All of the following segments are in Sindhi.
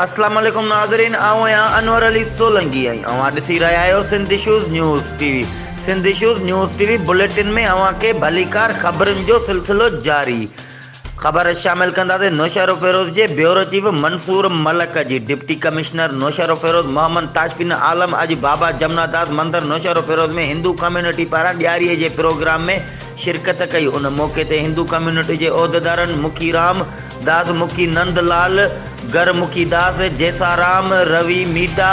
السلام عليڪم ناظرين آئون آهيان انور علي سولنگي ۽ اوهان ڏسي رهيا آهيو Sindh issues news T V Sindh issues news T V bulletin ۾ اوهان کي ڀليڪار خبرن جو سلسلو جاري خبر شامل ڪنداسين نوشهروفيروز جي بيورو چيف منصور ملڪ جي ڊپٽي ڪمشنر نوشهروفيروز محمد تاشفين عالم اڄ بابا جمنا داس مندر نوشهروفيروز ۾ هندو ڪميونٽي پاران ڏياري جي پروگرام ۾ شرڪت ڪئي ان موقعي تي هندو ڪميونٽي جي عهديدارن مکي رام داس مکي نند لال گر مکي داس جيسارام روي ميٽا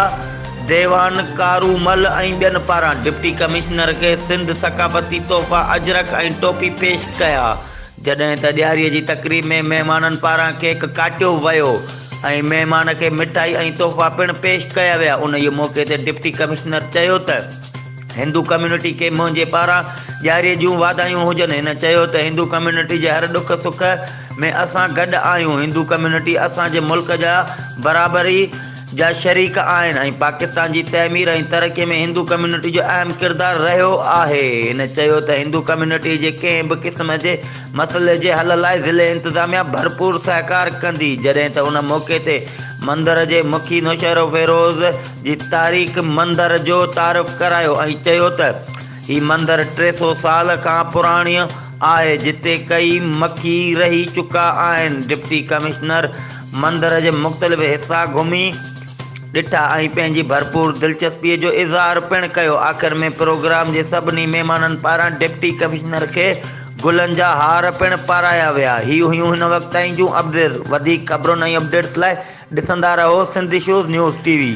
ديوان ڪارومل ۽ ٻين پاران ڊپٽي ڪمشنر کي سنڌ ثقافتي تحفا اجرڪ ۽ ٽوپي پيش ڪيا جڏهن ته ڏياري جي تقريب ۾ مهمانن پاران ڪيڪ ڪاٽيو ويو ۽ مهمان کي مٺائي ۽ تحفا پڻ پيش ڪيا ويا انهيء موقعي تي ڊپٽي ڪمشنر چيو ته هندو ڪميونٽي کي منهنجي پاران ڏياري جون واڌايون هجن هن چيو ته هندو ڪميونٽي جي هر ڏک سک ۾ اسان گڏ آهيون هندو ڪميونٽي اسان جي ملڪ جا برابر ئي جا شريڪ آهن ۽ پاڪستان جي تعمير ۽ ترقي ۾ هندو ڪميونٽي جو اهم ڪردار رهيو آهي. هن چيو ته هندو ڪميونٽي جي ڪنهن به قسم جي مسئلي جي حل لاء ضلعي انتظاميا ڀرپور سهڪار ڪندي جڏهن ته ان موقعي تي مندر جي مکي نوشهروفيروز جي تاريخ مندر جو تعارف ڪرايو ۽ چيو ته هي مندر ٽي سو سال کان پراڻي آهي جتي ڪئي مکي رهي چڪا آهن ڊپٽي ڪمشنر مندر جي مختلف حصا گهمي ڏٺا ۽ پنهنجي ڀرپور دلچسپي جو اظهار پڻ ڪيو آخر ۾ پروگرام جي سڀني مهمانن پاران ڊپٽي ڪمشنر کي گلن جا هار پڻ پارايا ويا هي هيون هن وقت تائين جون اپڊيٽس وڌيڪ خبرن ۽ اپڊيٽس لاء ڏسندا رهو Sindh issues news T V.